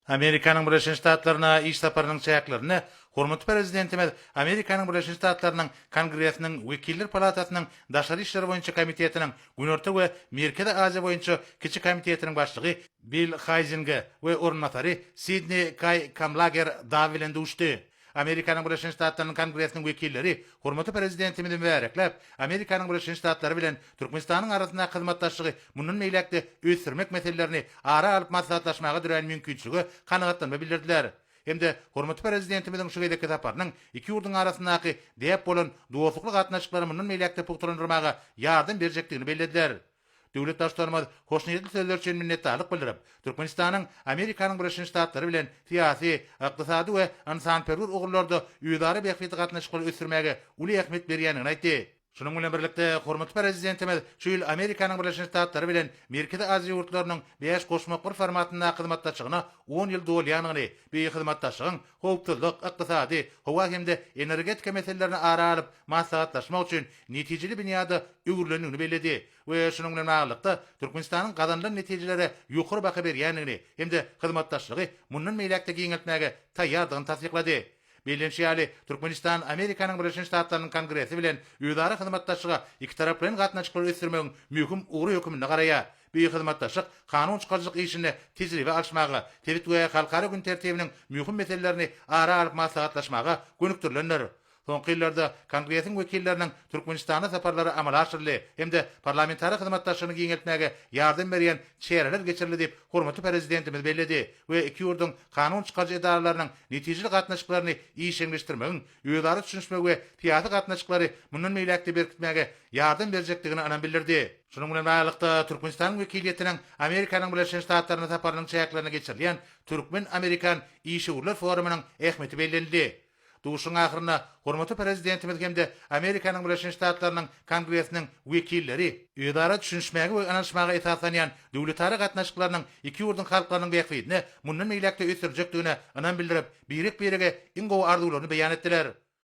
Amerikanyň Birleşen Ştatlaryna iş saparynyň çäklerinde hormatly Prezidentimiz Amerikanyň Birleşen Ştatlarynyň Kongresiniň Wekiller palatasynyň Daşary işler boýunça komitetiniň Günorta we Merkezi Aziýa boýunça kiçi komitetiniň başlygy Bill Haýzinge we orunbasary Sidni Kaý Kamlager Daw bilen duşdy. Amerikanyň Birleşen Ştatlarynyň Kongresiniň wekilleri hormatly Prezidentimizi mübärekläp, Amerikanyň Birleşen Ştatlary bilen Türkmenistanyň arasyndaky hyzmatdaşlygy mundan beýläk-de ösdürmek meselelerini ara alyp maslahatlaşmaga dörän mümkinçilige kanagatlanma bildirdiler hem-de hormatly Prezidentimiziň şu gezekki saparynyň iki ýurduň arasyndaky däp bolan dostlukly gatnaşyklary mundan beýläk-de pugtalandyrmaga ýardam berjekdigini bellediler. Döwlet Baştutanymyz hoşniýetli sözleri üçin minnetdarlyk bildirip, Türkmenistanyň Amerikanyň Birleşen Ştatlary bilen syýasy, ykdysady we ynsanperwer ugurlarda özara bähbitli gatnaşyklary ösdürmäge uly ähmiýet berýändigini aýtdy. Şunuň bilen birlikde, hormatly Prezidentimiz şu ýyl Amerikanyň Birleşen Ştatlary bilen Merkezi Aziýa ýurtlarynyň bäş goşmaklar formatyndaky hyzmatdaşlygyna on ýyl dolýandygyny, bu hyzmatdaşlygyň howpsuzlyk, ykdysady, howa hem-de energetika meselelerini ara alyp maslahatlaşmak üçin netijeli binýada öwrülendigini belledi we şunuň bilen baglylykda, Türkmenistanyň gazanylan netijelere ýokary baha berýändigini hem-de hyzmatdaşlygy mundan beýläk-de giňeltmäge taýýardygyny tassyklady. Bellenişi ýaly, Türkmenistan Amerikanyň Birleşen Ştatlarynyň Kongresi bilen özara hyzmatdaşlyga ikitaraplaýyn gatnaşyklary ösdürmegiň möhüm ugry höküminde garaýar. Bu hyzmatdaşlyk kanun çykaryjylyk işinde tejribe alyşmaga, sebit we halkara gün tertibiniň möhüm meselelerini ara alyp maslahatlaşmaga gönükdirilendir. Soňky ýyllarda Kongresiň wekilleriniň Türkmenistana saparlary amala aşyryldy hem-de parlamentara hyzmatdaşlygyny giňeltmäge ýardam berýän çäreler geçirildi diýip, hormatly Prezidentimiz belledi we iki ýurduň kanun çykaryjy edaralarynyň netijeli gatnaşyklaryny işjeňleşdirmegiň özara düşünişmegi we syýasy gatnaşyklary mundan beýläk-de berkitmäge ýardam berjekdigine ynam bildirdi. Şunuň bilen baglylykda, Türkmenistanyň wekiliýetiniň Amerikanyň Birleşen Ştatlaryna saparynyň çäklerinde geçirilýän türkmen-amerikan işewürler forumynyň ähmiýeti bellenildi. Duşuşygyň ahyrynda hormatly Prezidentimiz hem-de Amerikanyň Birleşen Ştatlarynyň Kongresiniň wekilleri, özara düşünişmäge we ynanyşmaga esaslanýan döwletara gatnaşyklarynyň iki ýurduň halklarynyň bähbidine mundan beýläk-de ösdürjekdigine ynam bildirip, birek-birege iň gowy arzuwlaryny beýan etdiler.